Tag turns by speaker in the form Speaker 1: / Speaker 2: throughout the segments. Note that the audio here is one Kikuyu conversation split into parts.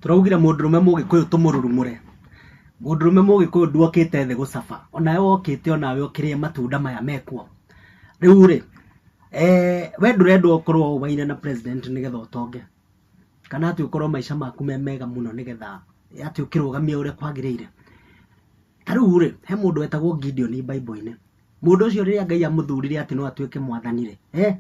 Speaker 1: tũraugire mũndũrũme mũgĩkũyũ tũmũrurumũre mũndũrũme mũgĩkũyũ nduokĩte thĩ gũcaba onawe wokĩte onawe ũkĩrĩe matunda maya mekuo rĩu rĩ eh, we ndũrendwo ũkorwo ũbaine na president nĩgetha ũtonge kana atĩ ũkorwo maica maku me mega mũno nĩgetha atĩ ũkĩrũgamia ũrĩa kwagĩrĩire ta rĩu rĩ he mũndũ wetagwo Gideon Bible-inĩ mũndũ ũcio rĩrĩa ngai amũthurire atĩ no atuĩke mwathani-rĩ eh?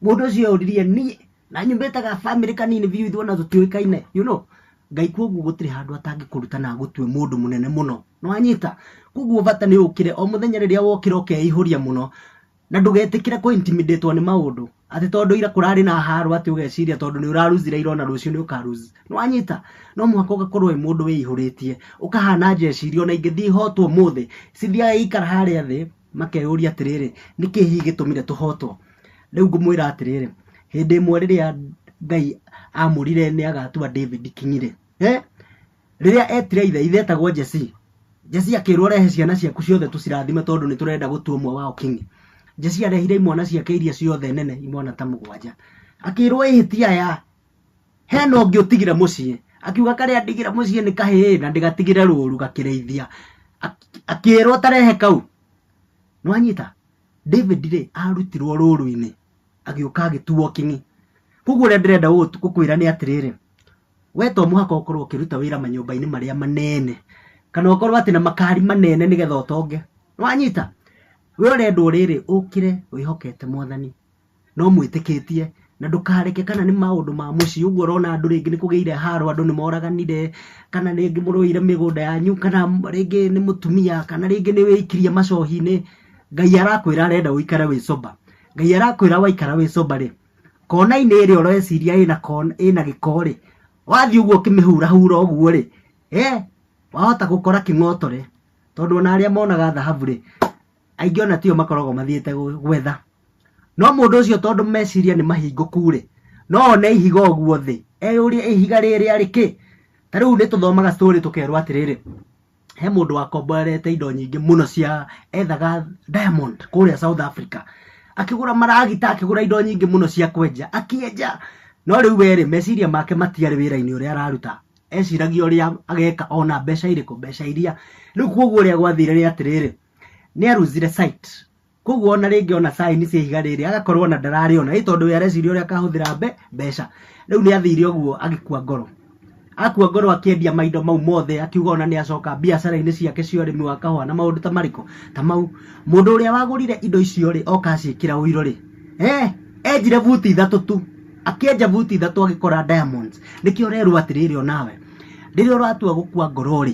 Speaker 1: mũndũ ũcio eũririe niĩ na nyumĩte ga family kanini biũ ithuona tũtiũĩkaine you know ngai koguo gũtirĩ handũ atangĩkũruta na agũtue mũndũ mũnene mũno nĩwanyita koguo bata nĩ ũkĩre o mũthenya rĩrĩa wokĩra ũkeihũria mũno na ndũgetĩkĩre kũ intimidate nĩ maũndũ atĩ tondũ ira kũrarĩ na haro atĩ ũgeciria tondũ nĩ ũraruzire ira ona rũciũ nĩ ũkaruzi nĩ wanyita no mũhaka ũgakorwo wĩ mũndũ wĩihũrĩtie ũkahana njeciria ona ingĩthiĩ ihotwo mũthĩ cithiaga ikara harĩa thĩ makeyũria atĩrĩrĩ nĩkĩ hihi gĩtũmire tũhotwo rĩu ngũmwĩra atĩrĩrĩ hĩndĩ ĩmwe rĩrĩa ngai amũrire nĩ agatua david king'irĩ eh? rĩrĩa etire ithe ithe etagwo Jesse Jesse akĩrwo rehe ciana ciaku ciothe tũcirathime tondũ nĩ tũrenda gũtua ũmwe wao king Jesse arehire imwana ciake iria ciothe nene imwana ta mũgwanja akĩrwo ĩhĩtia ya hena ũngĩ ũtigire mũciĩ akiuga karĩa ndigire mũciĩ nĩ kahĩĩ na ndĩgatigire rũru gakĩrĩithia akĩrwo tarehe kau nwanyita David rĩ arutirwo rũru-inĩ agĩũka agĩtuo king'i koguo ũrĩa ndĩrenda gũkwĩra nĩ atĩrĩrĩ We to mũhaka ũkorwo ũkĩruta wĩra manyũmba-inĩ marĩa manene kana ũkorwo atĩ na makari manene nĩgetha ũtonge wanyita we ũrendwo rĩrĩ ũkĩre wĩhokete mwathani na ũmwĩtĩkĩtie na ndũkareke kana nĩ maũndũ ma mũciĩ ũguo ũrona andũ rĩngĩ nĩ kũgĩire haro andũ nĩ moraganire kana rĩngĩ mũrũire mĩgũnda yanyu kana rĩngĩ nĩ mũtumia kana rĩngĩ nĩ wĩikirie macohi-inĩ ngai arakwĩra arenda ũikare wĩ sober ngai arakwĩra waikara wĩ sober rĩ kona-inĩ ĩrĩa ũreciria ĩna kona ĩna gĩkorĩ wathiĩ ũguo ũkĩmĩhurahura ũguo rĩ eh wahota gũkora kĩng'otore tondũ ona arĩa monaga thahabu rĩ aingĩ ona tio makoragwo mathiĩte gũ- gwetha no mũndũ ũcio tondũ meciria nĩ mahingũku rĩ no one ihiga ũguo thĩ eyũrie ihiga rĩrĩa rĩkĩ ta rĩu nĩ tũthomaga story tũkerwo atĩrĩrĩ he mũndũ wakomborete indo nyingĩ mũno cia ethaga diamond kũrĩa south africa akĩgũra maragita akĩgũra indo nyingĩ mũno cia kwenja akĩenja no rĩu werĩ meciria make matiarĩ wĩra-inĩ ũrĩa araruta eciragia ũrĩa ageka ona mbeca irĩkũ mbeca iria rĩu koguo ũrĩa gwathire nĩ atĩrĩrĩ nĩ aruzire site koguo ona rĩngĩ ona saini cia ihiga rĩrĩ agakorwo ona ndararĩona ĩ tondũ we areciria ũrĩa akahũthĩra mbe mbeca rĩu nĩ athire ũguo agĩkua ngoro akua ngoro akĩendia maindo mau mothe akiuga ona nĩ acoka biacara-inĩ ciake cia ũrĩmi wa kahũa na maũndũ ta marĩkũ ta mau mũndũ ũrĩa wagũrire indo icio rĩ oka aciĩkĩra ũiro rĩ eh, enjire buti ithatũ tu akĩenja buti ithatũ agĩkora diamonds nĩkĩo ũrerwo atĩrĩrĩ onawe rĩrĩa ũratua gũkua ngoro rĩ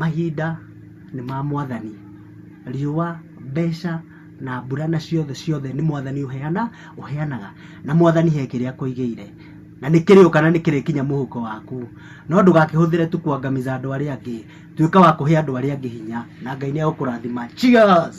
Speaker 1: Mahinda nĩ ma mwathani, riũa, mbeca na mbura na ciothe ciothe nĩ mwathani ũheana, ũheanaga na mwathani he kĩrĩa akũigĩire na nĩ kĩrĩũka na nĩ kĩrĩkinya mũhuko waku, no ndũgakĩhũthĩre tu kwangamiza andũ arĩa angĩ, tuĩka wa kũhe andũ arĩa angĩ hinya na Ngai nĩ egũkũrathima. Cheers!